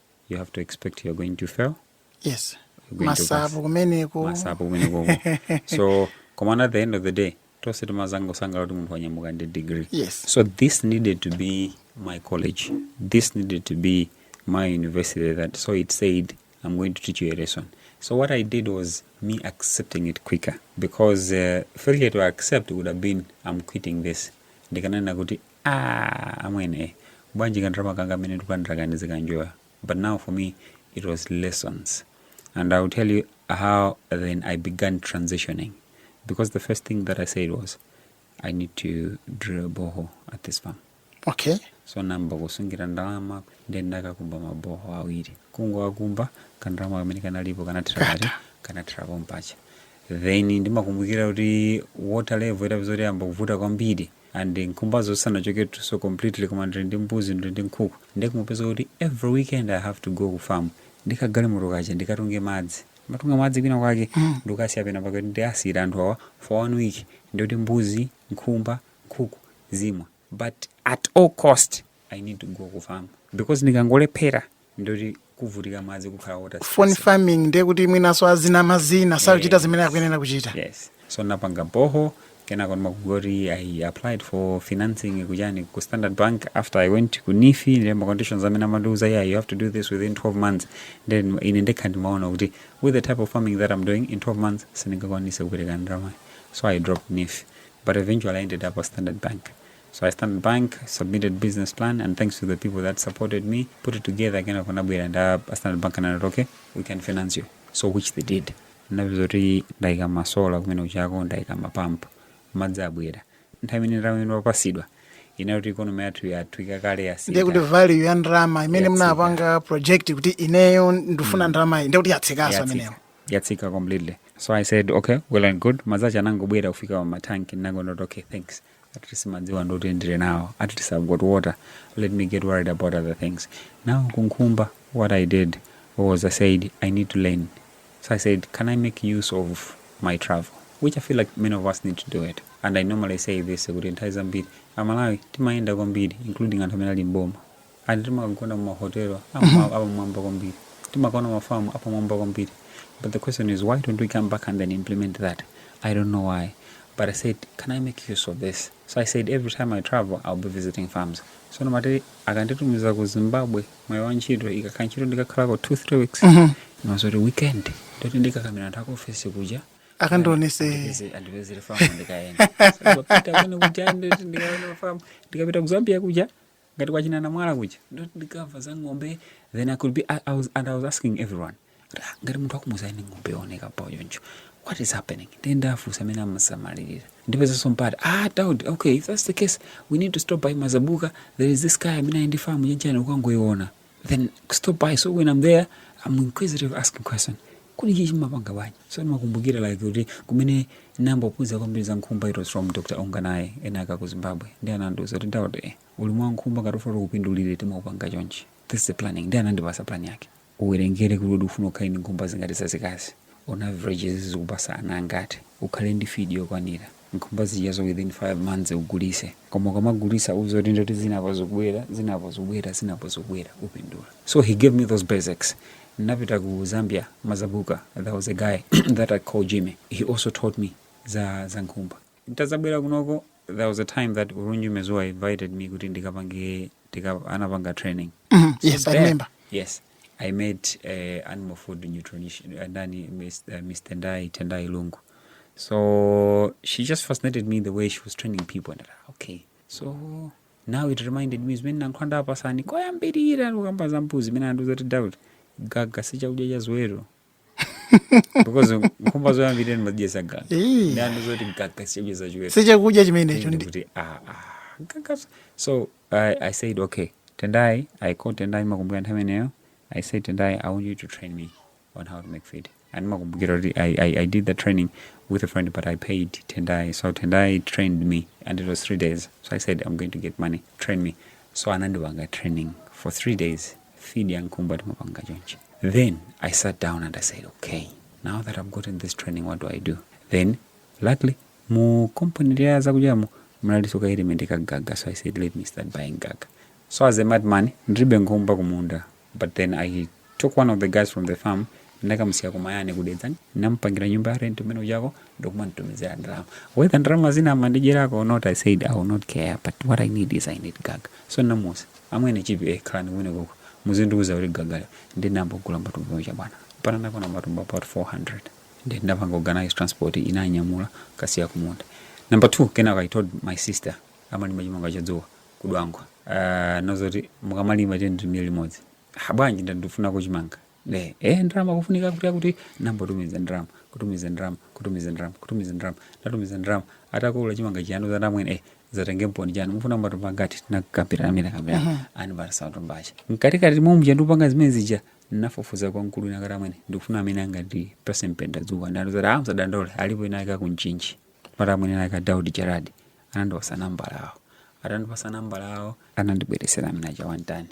you have to expect you're going to fail yes you're going to pass. masapo kumeneko masapo kumeneko so komana at the end of the day tose timazangosangala kuti munthu wanyamuka ndi degree Yes. so this needed to be my college this needed to be my university that so it said i'm going to teach you a lesson so what i did was me accepting it quicker because uh, failure to accept would have been i'm quitting this ndikanena kuti Aaa amwene bwanji kandalama kanga kamene ndikulandiraka ndizikanjoya but now for me it was lessons and I'll tell you how then I began transitioning because the first thing that I said was I need to drill a borehole at this farm okay so ndinayamba kusungira ndalama then ndinakakumba maboho awiri kungowakumba kandalama kamene kanalipo kanathera kati kanathera pompaja then ndimakumbukira kuti water level itapezeka kuti yayamba kuvuta kwambiri and nkhumbazo sizinachoketu so completely koma ndili ndi mbuzi ndili ndi nkhuku ndiye kumapezeka kuti every weekend i have to go ku farm ndi kagalimoto kaja ndikatunge madzi matunga madzi kwina kwake ndikasiye pena pake kuti ndiwasiyire anthu awa for one week ndiye kuti mbuzi nkhumba nkhuku zimwa but at all cost i need to go ku farm because ndikangolephera ndiye kuti kuvutika madzi kukhala water phone stress. farming ndiye kuti mwinanso azinama zina sakuchita zimene akuyenera kuchita yes so ndinapanga boho kenako ndimakumbuka kuti i applied for financing kujani ku standard bank after i went ku NEEF ndiye ma conditions amene amandiuza yeah you have to do this within 12 months then ine ndekha ndimaona kuti with the type of farming that i'm doing in 12 months sindingakwanitse kupereka ndalama so i dropped NEEF but eventually i ended up at standard bank So a Standard Bank, submitted business plan, and thanks to the people that supported me, put it together kenako anabwera nda a Standard Bank anati okay, we can finance you. So which they did. Ndapeza kuti ndaika masola kumene kujako ndaika mapampu madzi abwera nthawi imene nthawi imene wapatsidwa inali kuti ikonomi yathu yatsika kale ndiye kuti yatsika value ya ndalama imene Yatsika. munapanga project kuti ineyo ndifuna ndalama iyi ndiye kuti yatsikanso yatsika imeneyo yatsika completely so i said okay well and good madzi aja anangobwera kufika pa matanki ndinangonena kuti okay thanks at least madziwa ndiye kuti ndili nawo at least i've got water let me get worried about other things now kunkhumba what i did was i said i need to learn so i said can i make use of my travel which i feel like many of us need to do it and i normally say this kuti nthawi zambiri amalawi timayenda kwambiri including anthu amene ali mboma Anthu timagona mumahotelo apamwamba kwambiri, timakaona mafamu apamwamba kwambiri but the question is why don't we come back and then implement that? I don't know why but I said can I make use of this? So I said every time I travel I'll be visiting farms. So ndimati akanditumiza ku Zimbabwe mwina wantchito ikakhala ntchito ndikakhalako 2 3 weeks ndimadziwa zoti weekend ndiye kuti ndikakamira anthu akuofesi kuja akandionetse Andipeze- andipezere famu ndikayenda So, ndikapita kumene kuja ndikaona famu ndikapita ku Zambia kuja ngati kwa china Namwala kuja ndikamva za ng'ombe then i could be I, I was, and i was asking everyone ah, ngati munthu akumuuza eni ng'ombe yooneka bwino choncho what is happening ndiye ndinafunsa mmene amasamalirira ndipezanso mpata ah daud okay if that's the case we need to stop by mazabuka there is this guy amene ali ndi famu chanchani ukangoiona then stop by so when i'm there i'm inquisitive asking question kodi ichi mumapanga bwanji so ndimakumbukira like kuti kumene ndinambophunzira kwambiri za nkhumba it was from dr onganaye ena ake aku zimbabwe ndi anandiuza kuti daudi ulimi wa nkhumba ngati ufuna kupindulire timaupanga chonchi this is the planning ndi anandipasa plan yake uwerengere kuti kodi ufuna ukhale ndi nkhumba zingati zazikazi on average zizikupasa ana angati ukhale ndi feed yokwanira nkhumba zijazo within 5 months ugulise koma ukamagulisa uze kuti ndoti zinapo zikubwera zinapo zikubwera zinapo zikubwera upindula so he gave me those basics napita ku zambia mazabuka there was a guy that i call jimmy he also taught me za, za nkhumba ntazabwera kunoko there was a time that ulunji mezuwa invited me kuti ndikapange tika, anapanga training yes i remember yes I made uh, animal food nutrition uh, Nani, Miss, uh, Miss Tendai, Tendai Lungu. So she just fascinated me the way she was training people. And I, okay, so now it reminded me zimene nankhwanda apasani koyambirira kukamba za mbuzi imene andiuza kuti doubt gaga si chakudya cha ziweto because nkhumba zoyambirira ndimadyesa gaga Eh. nde anandiuza zoti gaga sichakudya cha ziweto sichakudya chimenecho ndi kuti ah, ah, gaga so I, i said okay tendai i called tendai makumbukira nthawi imeneyo i said tendai i want you to train me on how to make feed and makumbukira kuti I, I, i did the training with a friend but i paid tendai so tendai trained me and it was three days so i said i'm going to get money train me so anandipanga training for three days feed ya nkumba timapanga chonchi then i sat down and i said okay now that i've gotten this training what do i do then luckily mu company lya zakudyamo mnaliso ka element ka gaga so i said let me start buying gaga so as a madman ndilibe nkhumba kumunda but then i took one of the guys from the farm ndinakamusiya ku mayani ku dedza ndinamupangira nyumba ya rent kumene kujako ndikumamutumizira ndalama whether ndalama zina amandidyerako or not i said i will not care but what i need is i need gaga so ndinamuuza amwene chipi eh, khalani kumene koko muzindiuza kuti gaga nde ndinambogula matumba aja bwana mpaka anakwana matumba about 400 ndi ndinapanga organize transport inanyamula kukasiya kumunda number two kenako i told my sister amalima chimanga cha dzuwa ku dwangwa uh, ndamuuza zoti mukamalima tendimire limodzi habwanji ndandifunako chimanga ne eh ndalama kufunika kuti kuti nambotumiza ndalama kutumiza ndalama kutumiza ndalama kutumiza ndalama ndatumiza ndalama atakolola chimanga chija anandiuza amwene eh zatengeniponi chanu mufuna matumba angati nakapira amene kapira uh -huh. anandipasa matumba aja mkatikati mwa muja ndikupanga zimene zija nafufuza kwa mkulu wina kuti amwene ndikufuna amene angatipase mpendadzuwa nde anandiuza kuti a musadandaule alipo ena ake ku mchinji amwene ena ake Daudi Gerard anandipasa nambala awo atandipasa nambala awo anandibweresera mwina cha one tonne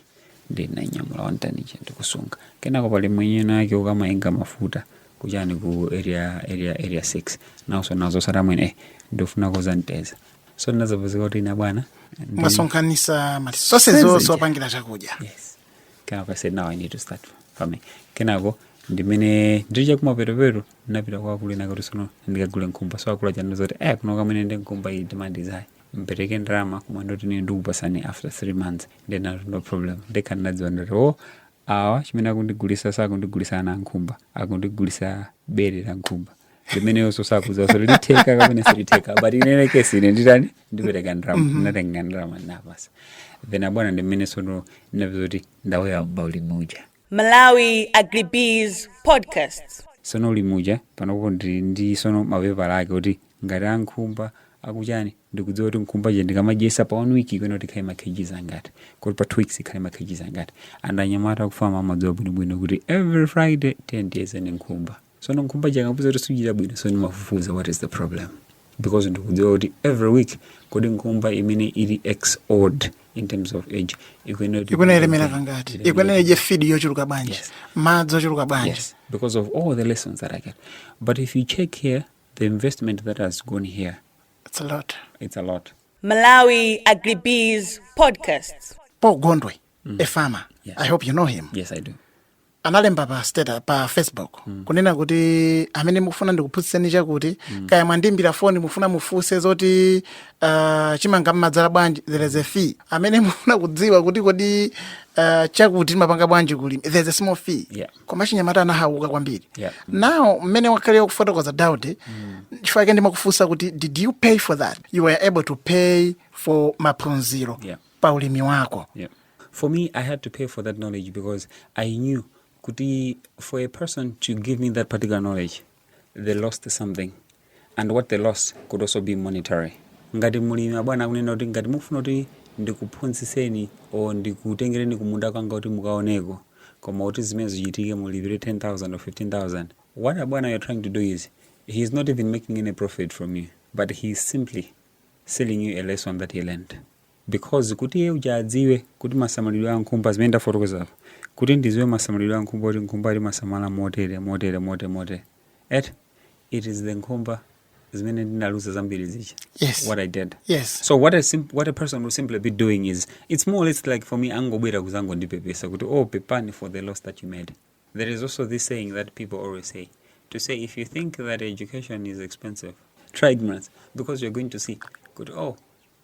ndinanyamula one tonne ija ndikusunga kenako pali mwenye wina wake akumayenga mafuta kuchani ku area area area 6 nawonso nazawauza amwene eh, ndifunako za mteza so ndinazapezeka kuti ine bwana ndi- mwasonkhanisa ma resource onse Onse. opangira chakudya yes kenako I said now I need to start farming kenako ndimene ndiri chakumapetopeto ndinapita kwa akulu ena kuti sono ndikagule nkhumba so akulu aja anandiuza kuti eh kuno amwene ndi nkhumba iyi demand is high mpereke ndalama koma ndoti ine ndikupasani after three months then I have no problem ndekha ndinadziwa ndoti o awa chimene akundigulisa sakundigulisa ana ankhumba akundigulisa bere la nkhumba limeneyonso sakuuza zoti zitheka kapena sizitheka but inene kesi ine nditani ndipereka ndrama ndinatenga ndrama ndawapatsa then abwana ndi mmene sono ndinapeza kuti ndalowa pa ulimi uja Malawi Agribusiness Podcast. sono ulimi uja panopo ndi ndi sono mapepala ake kuti ngati ankhumba akuchani ndikudziwa kuti nkhumba je ndikamadyesa pa one week ikuyenera kuti ikhale ma kgs angati kuti pa two weeks ikhale ma kgs angati and anyamata akufamu amadziwa bwinobwino kuti every friday ndimayeza nkhumba so nkhumba ija ndikapeza kuti sikuchita bwino so ndimafufuza what is the problem because ndikudziwa kuti every week kodi nkhumba imene ili x old in terms of age ikuyenera kuti- ikuyenera ilemera kangati Ilemera- ikuyenera idye fidi yochuluka bwanji Yes. madzi ochuluka bwanji Yes, because of all the lessons that I get. But if you check here, the investment that has gone here, It's a lot. it's a lot. Malawi Agribusiness Podcast. paul gondwe a farmer Yes. i hope you know him Yes, I do. analemba pa pa facebook kunena kuti amene mukufuna ndikuphunzitseni chakuti kaya mwandimbira foni mufuna mufunse zoti uh, chimanga mmadzala bwanji there is a fee amene mufuna kudziwa kuti kodi uh, chakuti timapanga bwanji kulima there is a small fee Yeah. koma achinyamata anahauka kwambiri Yeah. now mmene wakhala ukufotokoza Daudi chifukwa chake ndimakufunsa kuti did you pay for that you were able to pay for maphunziro Yeah. pa ulimi wako. Yeah. For me, I had to pay for that knowledge because I knew kuti for a person to give me that particular knowledge, they lost something. And what they lost could also be monetary. Ngati mulimi abwana akunena kuti ngati mufuna kuti ndikuphunzitseni or ndikutengereni kumunda kwanga kuti mukaoneko koma kuti zimene zichitike mulipire 10000 or 15000 what abwana you're trying to do is he is not even making any profit from you but he is simply selling you a lesson that he learned because kuti iye uja adziwe kuti masamalidwe a nkhumba zimene ndafotokoza apa kuti ndiziwe masamalidwe a nkhumba kuti nkhumba timasamala motere motere motere motere et it is the nkhumba zimene ndinaluza zambiri zija Yes. what i did Yes. so what a, sim what a person will simply be doing is it's more or less like for me angobwera kuzangondipepesa kuti pepani for the loss that you made there is also this saying that people always say to say if you think that education is expensive try ignorance because you're going to see kuti oh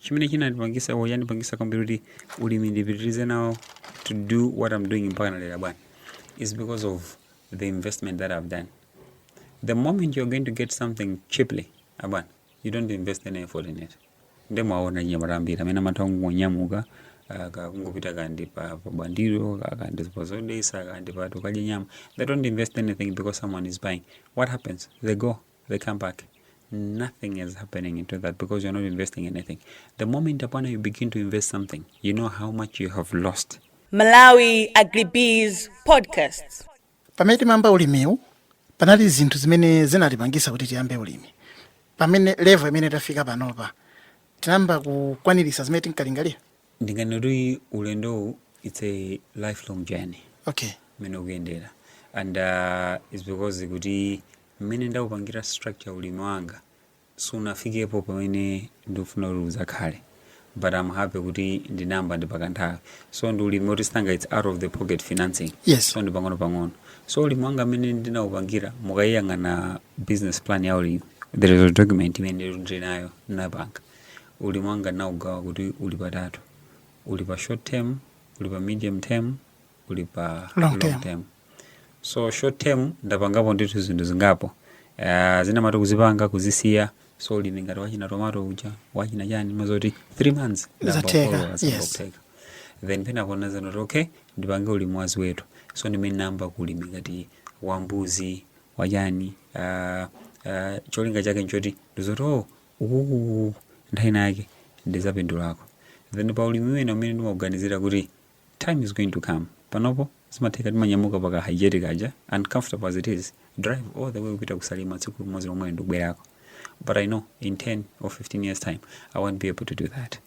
chimene chinandipangisa or yandipangisa kwambiri kuti ulimi ndipitirize nawo to do what i'm doing mpaka lero abwana is because of the investment that i've done the moment you're going to get something cheaply abwana you don't invest any effort in it nde mwaona nyamata ambiri amene amatha kungonyamuka ah, ka- kungopita akandipatsa pa bandiro ka- akandipatsa zodesa akandipatsa tikadya nyama they don't invest anything because someone is buying what happens they go they come back nothing is happening into that because you're not investing anything the moment upon you begin to invest something you know how much you have lost Malawi Agribusiness Podcast. pamene timayamba ulimiwu panali zinthu zimene zinatipangisa kuti tiyambe ulimi pamene level imene tafika panopa tinayamba kukwanirisa zimene tinkalingalira ndinganene kuti ulendowu it's a lifelong journey okay mmene ukuyendera and uh, it's because kuti mmene ndaupangira structure ulimi wanga sunafikepo pamene ndikufuna kuti udzakhale but I'm happy kuti ndinayamba ndi pakanthawi so ndi ulimi oti sanga it's out of the pocket financing Yes. so ndi pang'ono pang'ono so ulimi wanga mmene ndinaupangira mukayiyang'ana business plan ya ulimi there is a document imene ndili nayo na bank Ulimi wanga ndinaugawa kuti uli patatu. Uli pa short term, uli pa medium term, uli pa long, long term. term. So short term ndapangapo ndithu zinthu zingapo. Uh, zina mmati kuzipanga kuzisiya so ulimi ngati wachina tomato uja wachina chani mazoti 3 months ndayamba kukolola yes. then pena kona zanoti okay ndipange ulimi wa ziweto so ndimmene ndinayamba ulimi ngati wambuzi wachani uh, uh, cholinga chake nchoti ndidzati oh ukuku nthawi ina yake ndidzapindulako then pa ulimi wina umene ndimauganizira kuti time is going to come panopo zimatheka timanyamuka paka Hijet kaja uncomfortable as it is drive all the way kupita ku Salima tsiku limodzi lomwe ndikubwerako but i know in 10 or 15 years time i won't be able to do that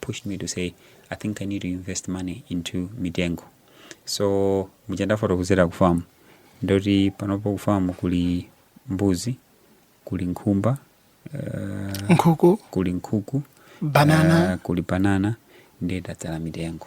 pushed me to say i think i need to invest money into mitengo so muja ndafotokozera ku farm ndoti panopo ku farm kuli mbuzi kuli nkhumba uh, nkhuku kuli nkhuku banana uh, kuli banana ndiye tadzala mitengo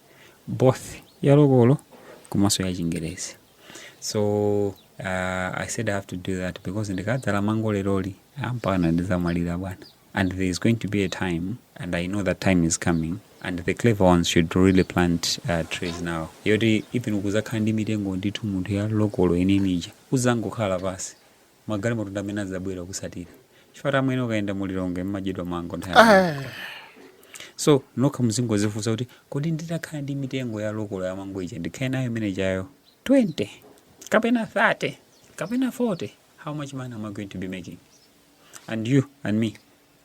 both ya lokolo komanso ya chingerezi so uh, i said i have to do that because ndikadzala mango leroli mpakana ndidzamwalira bwana and there is going to be a time and i know that time is coming and the clever ones should really plant uh, trees now yoti even kudzakhala ndi mitengo ndithu munthu ya lokolo imeneija udzangokhala pansi magalimoto ndi amene adzabwera kukusatira chifukwatu amwene ukayenda mu lilongwe mmadyedwa mango nthawi yambiri. Ah, so nokha muzingodzifunsa kuti kodi nditakhala ndi mitengo ya lokolo ya mango ija ndikhale nayo imene ijayo 20 kapena 30 kapena 40 how much money am i going to be making and you and me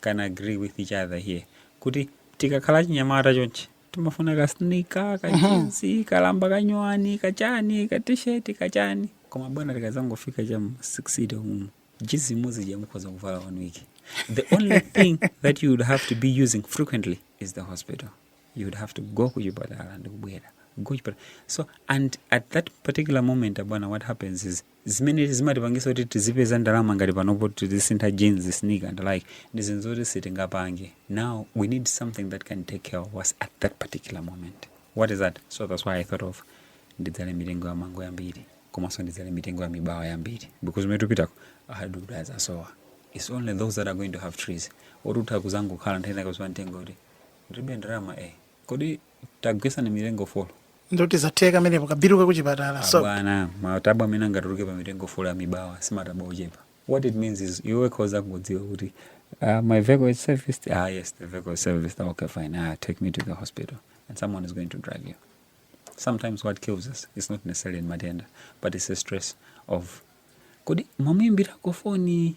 can agree with each other here kuti tikakhala chinyamata chonchi timafuna ka sneaker ka jinsi kalamba kanyowani kachani ka t-shirt kachani koma bwana tikadzangofika cha mma sixty umu jinsi imodzi ija mukhoza kuvala one week the only thing that you would have to be using frequently is the hospital you would have to go kuchipatala ndikubwera go kuchipatala so and at that particular moment abwana what happens is zimene zimatipangisa kuti tizipeza ndalama ngati panopo tizisintha jeans sneaker and like ndi zinthu zoti sitingapange now we need something that can take care of us at that particular moment what is that so that's why i thought of ndidzale mitengo ya mango yambiri komanso ndidzale mitengo ya mibawa yambiri because umene tupitako ma hardwood azasowa it's only those that are going to have trees otutha kuzangokhala nthena kuziwa mtengo kuti ndilibe ndalama eh kodi tagwesani mitengo folo ndoti zatheka amenepo ka bill ka kuchipatala so abwana matabwa amene angatuluke pa mitengo folo ya mibawa si matabwa ochepa what it means is iwe ukhoza kudziwa kuti uh, my vehicle is serviced ah yes the vehicle is serviced Ah, okay fine ah take me to the hospital and someone is going to drive you sometimes what kills us is not necessarily ndi matenda but it's a stress of kodi mwamuimbirako foni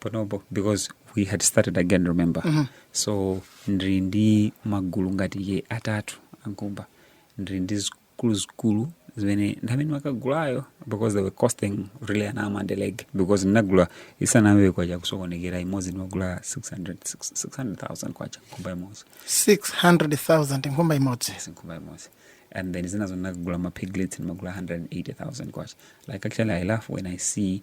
panopo because we had started again remember mm -hmm. so ndiri ndi magulu ngati ye atatu a nkhumba ndiri ndi zikulu zikulu zimene ndamene ndimakagulayo because they were costing really an arm and a leg because ndinagula isanayambe kwacha kusokonekera imodzi ndimagula 600000 kwacha nkhumba imodzi 600000 nkhumba imodzi yes, nkhumba imodzi and then zinazo ndinagula mapiglets ndimagula 180000 kwacha like actually i laugh when i see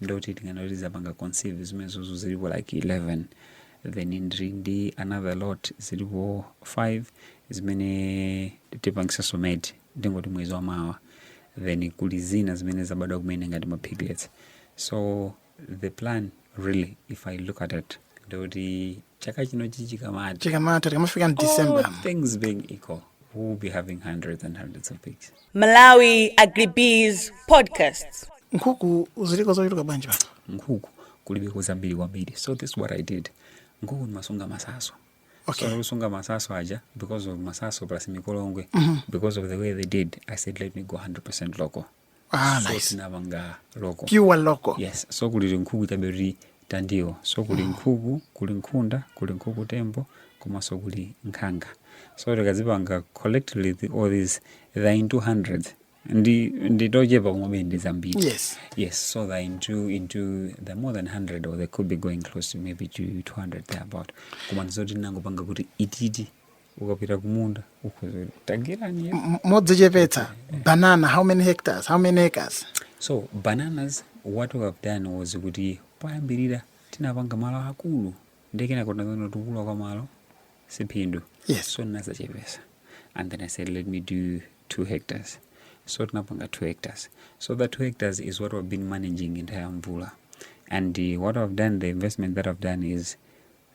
ndoti tinganene kuti zapanga conceive zimenezo zilipo like 11 then ndiri ndi another lot zilipo 5 zimene tipangisaso mate ndingoti mwezi wa mawa then kuli zina zimene zabadwa kumene ngati ma piglets so the plan really if i look at it ndoti chaka chino chikamatha chikamatha tikamafika mu december All things being equal we will be having hundreds and hundreds of pigs Malawi Agribusiness Podcast. nkhuku ziliko zochuluka bwanji pano nkhuku kulibe kuzambiri kwambiri so this is what i did nkhuku ndimasunga masaso Okay. so kusunga masaso aja because of masaso plus mikolongwe because of the way they did i said let me go 100 local Ah, so nice. tinapanga local Pure local. yes so kuli nkhuku chabe kuti tandiwo so kuli nkhuku kuli nkhunda kuli nkhuku tembo komanso kuli nkhanga so tikazipanga collectively the, all these they're into hundreds ndi ndi tochepa koma ndi zambiri Yes. yes so they're into into they're more than 100 or they could be going close to maybe to 200 there about koma ndizoti tinangopanga kuti ititi ukapita kumunda ukhoza kuti tagwirani ya M- modzichepetsa banana how many hectares how many acres so bananas what we have done was kuti poyambirira tinapanga malo akulu nde kenako tinazaona kuti kukula kwa malo siphindu Yes. so ndinazachepesa and then i said let me do two hectares so tinapanga two hectares so that two hectares is what we've been managing entire mvula and uh, what i've done the investment that i've done is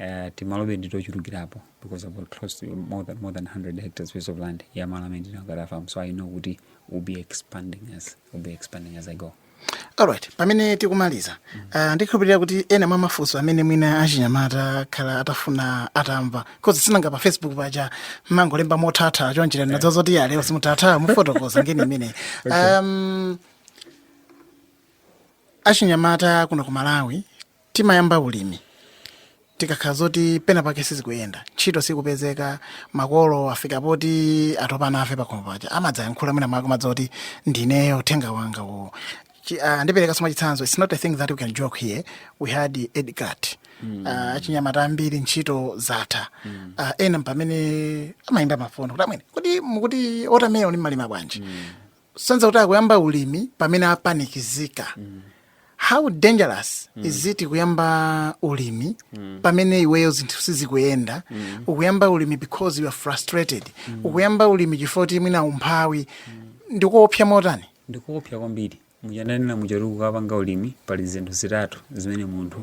Uh, timalobe nditochulukirapo because I've got close to more than, more than 100 hectares piece of land ya malo amene ndinagula farm so I know kuti we'll be expanding as we'll be expanding as I go alright pamene tikumaliza mm -hmm. uh, ndikhulupirira kuti ena mwa mafunso amene mwina achinyamata akhala atafuna atamva because sinanga pa facebook paja mumangolemba motha kutha choncho yeah. ndiye zoti ya lero simuthatha kufotokoza ngeni imene okay. um, achinyamata kuno ku malawi timayamba ulimi tikakhala zoti pena pake sizikuyenda ntchito sikupezeka makolo afika poti atopa nafe pakhomo paja amadzayankhula mwina mwakomedza kuti ndineyo uthenga wanga uwo Chi- ah, ndipereka ngati chitsanzo its not a thing that we can joke here we had Edgar mm. uh, achinyamata ambiri ntchito zatha mm. uh, ena mpamene amayimba mafoni kuti amwene kuti mukuti ulimiwo mumalima bwanji mm. sonyeza kuti akuyamba ulimi pamene apanikizika how dangerous is it kuyamba ulimi pamene iweyo zinthu sizikuyenda ukuyamba ulimi because you are frustrated ukuyamba ulimi chifukwa kuti mwina umphawi ndikuopsa motani ndikuopsa kwambiri muja ndanena muja kuti kukapanga ulimi pali zinthu zitatu zimene munthu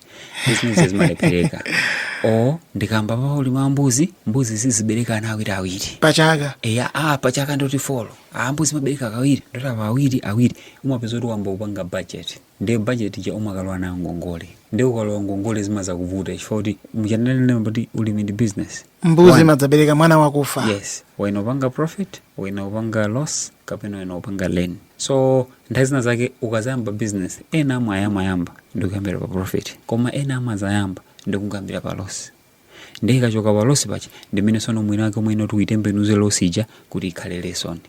izi zimalephereka o ndikamba pa ulimi wa mbuzi mbuzi zizibereka ana awiri awiri pachaka eya a pachaka ndi kuti four a mbuzi imabereka kawiri ndi kuti apa awiri awiri umapeza kuti wayamba kupanga budget ndiye budget ija umakalowa nayo ngongole ndiye ukalowa ngongole zimadzakuvuta chifukwa kuti muja ndanena kuti ulimi ndi business mbuzi One. imadzabereka mwana wakufa yes ena upanga profit ena upanga loss kapena ena upanga gain so nthawi zina zake ukadzayamba business ena amayamba ndikuyambira pa profit koma ena amadzayamba ndikungoyambira pa loss ndiye ikachoka pa loss paja ndi mmene tsono mwina wake mwina kuti uyitembenuze loss ija kuti ikhale lesson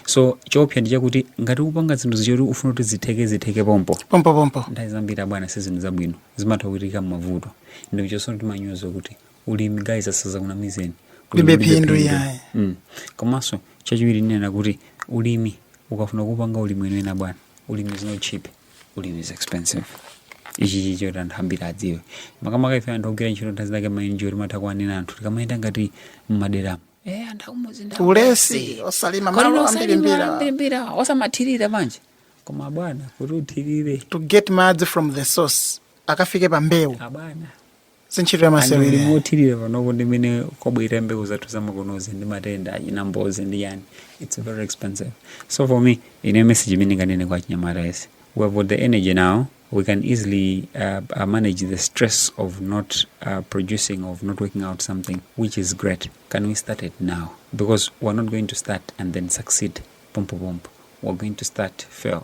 so choopsa ndi chakuti ngati ukupanga zinthu zija zoti ufuna kuti zitheke zitheke pompo pompopompo nthawi zambiri abwana si zinthu zabwino zimatha kuchitika mavuto ndipo chonse timanyoza kuti ulimi guys asadzakunamizeni ulibe phindu yaye. mm. komanso chachiwiri ndinena kuti ulimi ukafuna kupanga ulimi weniweni abwana ulimi is not cheap ulimi is expensive ichi ndicho anthu ambiri adziwe makamaka ife anthu ogwira ntchito nthawi zina timainjoya timatha kuwanena anthu tikamayenda ngati mmaderamu eh anthu akumudzi ndi ulesi osalima malo ambirimbiri osamathirira bwanji koma bwana kuti uthirire to get madzi from the source akafike pa mbewu abwana si ntchito ya masewera imeneyi. kuthirira panopo ndi mmene kwabwerera, mbewu zathu zamakonozi, ndi matenda achina mbozi ndi chani its very expensive so for me ine message imene ndinganene kwa achinyamata onse we have got the energy now we can easily uh, uh, manage the stress of not uh, producing of not working out something which is great can we start it now because we're not going to start and then succeed pompo pompo we're going to start fail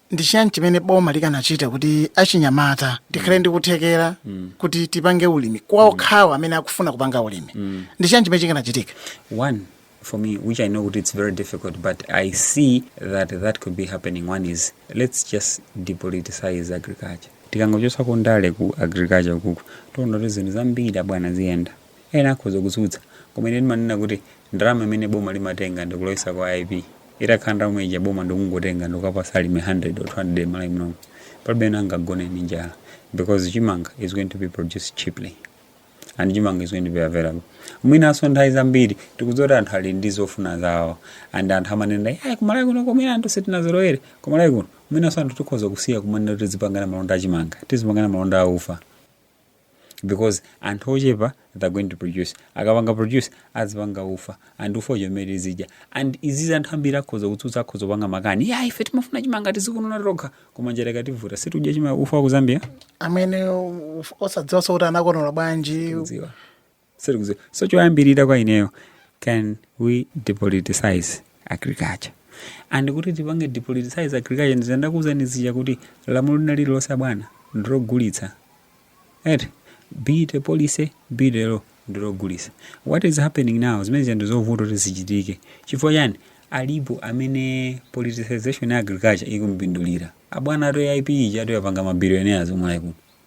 ndi chiyani chimene boma likanachita kuti achinyamata tikhale ndi kuthekera kuti tipange ulimi kwa okhawo amene akufuna kupanga ulimi ndi chiyani chimene chikanachitika One, for me, which I know it's very difficult, but I see that that could be happening. One is let's just depoliticize agriculture. tikangochotsa kundale ku agriculture kuku tiona kuti zinthu zambiri abwana ziyenda Ena akhoza kutsutsa, koma ine ndimanena kuti ndalama imene boma limatenga ndikulowesa ku AIP, itakhala ndalama ija boma ndikungotenga ndikuwapatsa alimi 100 or 200 mmalawi munomu, palibe amene angagone ndi njala because chimanga is going to be produced cheaply and chimanga is going to be available. Mwinanso nthawi zambiri tikudziwa kuti anthu ali ndi zofuna zawo and anthu amanena kuti kumalawi kuno komwera anthu sitinazolowere, kumalawi kuno, mwinanso anthu tikhoza kusiya kumanena kuti tizipangana malonda a chimanga, tizipangana malonda a ufa, because anthu ochepa they're going to produce akapanga produce azipanga ufa and ufa ujawo umene tizidya and izizi anthu ambiri akhoza kutsutsa akhoza kupanga makani ya ife timafuna chimanga tizikonola tokha koma njala ikativuta si tudya nsima ufa wa ku zambia amene uf- osadziwanso kuti anakonola bwanji kudziwa so choyambirira kwa ineyo can we depoliticize agriculture and kuti tipange depoliticize agriculture ndizo ndakuuzani zija kuti lamulo lina lililonse abwana ndilogulitsa eti be it a policy be it a law ndilogulitsa what is happening now zimene zija ndizovuta kuti zichitike chifukwa chani alipo amene politicization ya agriculture ikumpindulira abwana eti aip ija eti yapanga mabilionaires omwe ayi kuno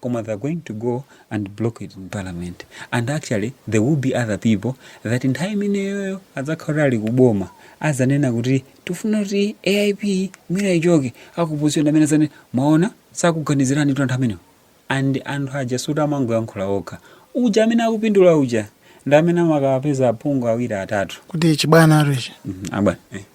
koma they're going to go and block it in parliament and actually there will be other people that nthawi imeneyoyo adzakhala kuti ali kuboma azanena kuti tifuna kuti aip mwina ichoke aku opposition amene azanene mwaona sakukuganizirani kuti anthu amenewo and anthu aja suti amangoyankhula okha uja amene akupindula uja ndi amene amakawapeza aphungu awiri atatu kuti chibwana atochi Mhm, abwana eh.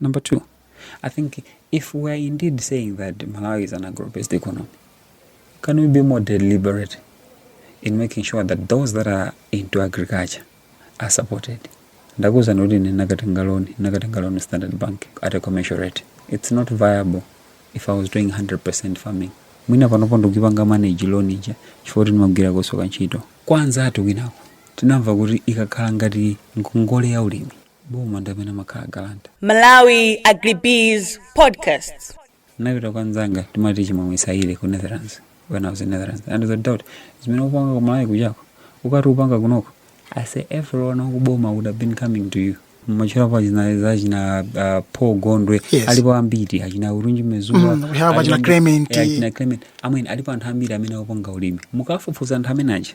Number two, I think if we are indeed saying that Malawi is an agro-based economy, can we be more deliberate in making sure that those that are into agriculture are supported? ndakuuzani kuti ndinakatenga loan ndinakatenga loan standard bank at a commercial rate it's not viable if i was doing 100% farming mwina panopo ndikupanga manage loan ija chifukwa kuti ndimagwira kwinaso ntchito kwanzathu kwinako tinamva kuti ikakhala ngati ngongole ya ulimi boma ndi amene amakhala guarantor Malawi Agribiz Podcasts. ndinapita kwa nzanga timati chimwemwe saile ku netherlands when i was in netherlands anandiuza kuti zimene upanga ku malawi kujaku ukati upanga kunoko i say everyone wakuboma would have been coming to you mwatchulapo achina za achina uh, paul gondwe Yes. alipo ambiri achina Urunji Mezuwa Mm, we have achina Clement. achina clement amene alipo anthu ambiri amene akupanga ulimi mukafufuza anthu amene aja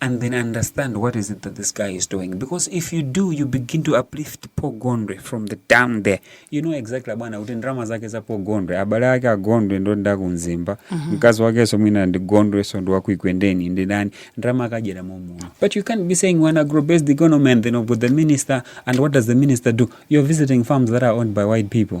and then understand what is it that this guy is doing because if you do you begin to uplift Paul Gondwe from the down there you know exactly bwana kuti ndrama zake za Paul Gondwe abale ake a Gondwe ndonda ku Mzimba mm -hmm. mkazi wake so mwina ndi Gondwe so ndi waku Ekwendeni ndi ndani ndalama akadyera momo but you can't be saying we're an agro based economy and then you have the minister and what does the minister do you're visiting farms that are owned by white people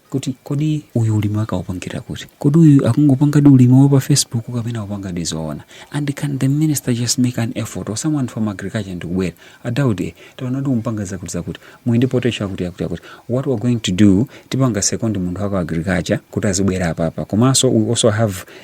kuti kodi uyu ulimi wake aupangira kuti kodi uyu akungopangadi ulimi wa pa facebook kapena akupangadi zoona and can the minister just make an effort or someone from agriculture ndikubwera a Daudi eh, taona kuti mukupanga zakuti zakuti muli ndi potential akuti akuti akuti what we're going to do tipanga second munthu wa ku agriculture kuti azibwera apapa komanso we also have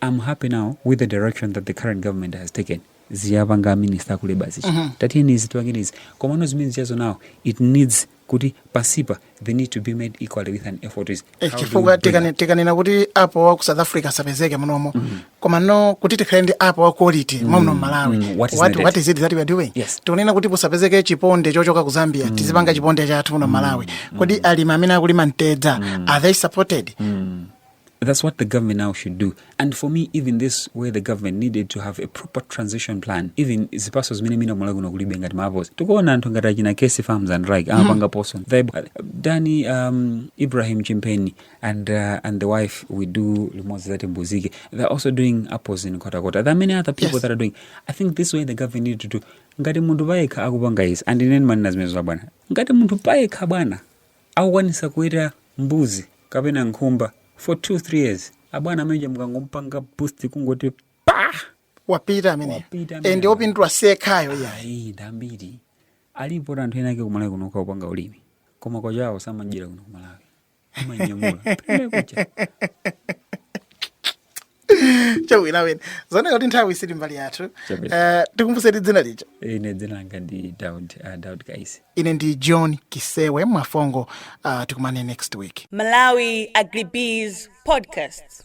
Am happy now with the direction that the current government has taken za apanga a minister ku labor zichi uh -huh. tatiyeni izi tipange izi komano zimene zichazo now it needs kuti pansipa they need to be made equally with an effort is eh, chifukwa tikanena kuti apo wa ku south africa asapezeke munomo mm -hmm. koma no kuti tikhale ndi apo wa quality mm -hmm. mwamuno mmalawi mm -hmm. what, what, what is it that we are doing yes. tikunena kuti pusapezeke chiponde chochoka ku zambia mm -hmm. tizipanga chiponde chathu muno mmalawi mm -hmm. kodi alimi amene akulima mtedza mm -hmm. are they supported mm -hmm. That's what the government now should do. And for me, even this where the government needed to have a proper transition plan, even zipaso zimene mina kumala kuno kulibe ngati mavozi. Tikuona anthu ngati achina Casey Farms and Rike mm-hmm. amapanga poso. Danny um, Ibrahim Chimpeni and uh, and the wife we do limodzi zati mbuzike. They're also doing apples in Kota Kota. There are many other people yes. that are doing. I think this way the government needed to do ngati munthu payekha akupanga izi andineni manena zimenezo bwana ngati munthu payekha bwana akukwanisa kuweta mbuzi kapena nkhumba for two three years abwana ameneja mukangomupanga boost kungoti pa wapita amene Wapita amene. ende opindula sekhayo ya ayi ndambiri alipo anthu ena ake kumalawi kuno ukapanga ulimi koma kwachawo samajira kuno kumalawi amanyamula Pamene kucha. chawina wina zooneka kuti nthawi sili mbali yathu Chabwino. uh, tikumbuseni dzina lija ine dzina langa ndi daud uh, daud kaisi ine ndi john kisewe Mwafongo uh, tikumane next week Malawi Agribiz Podcast.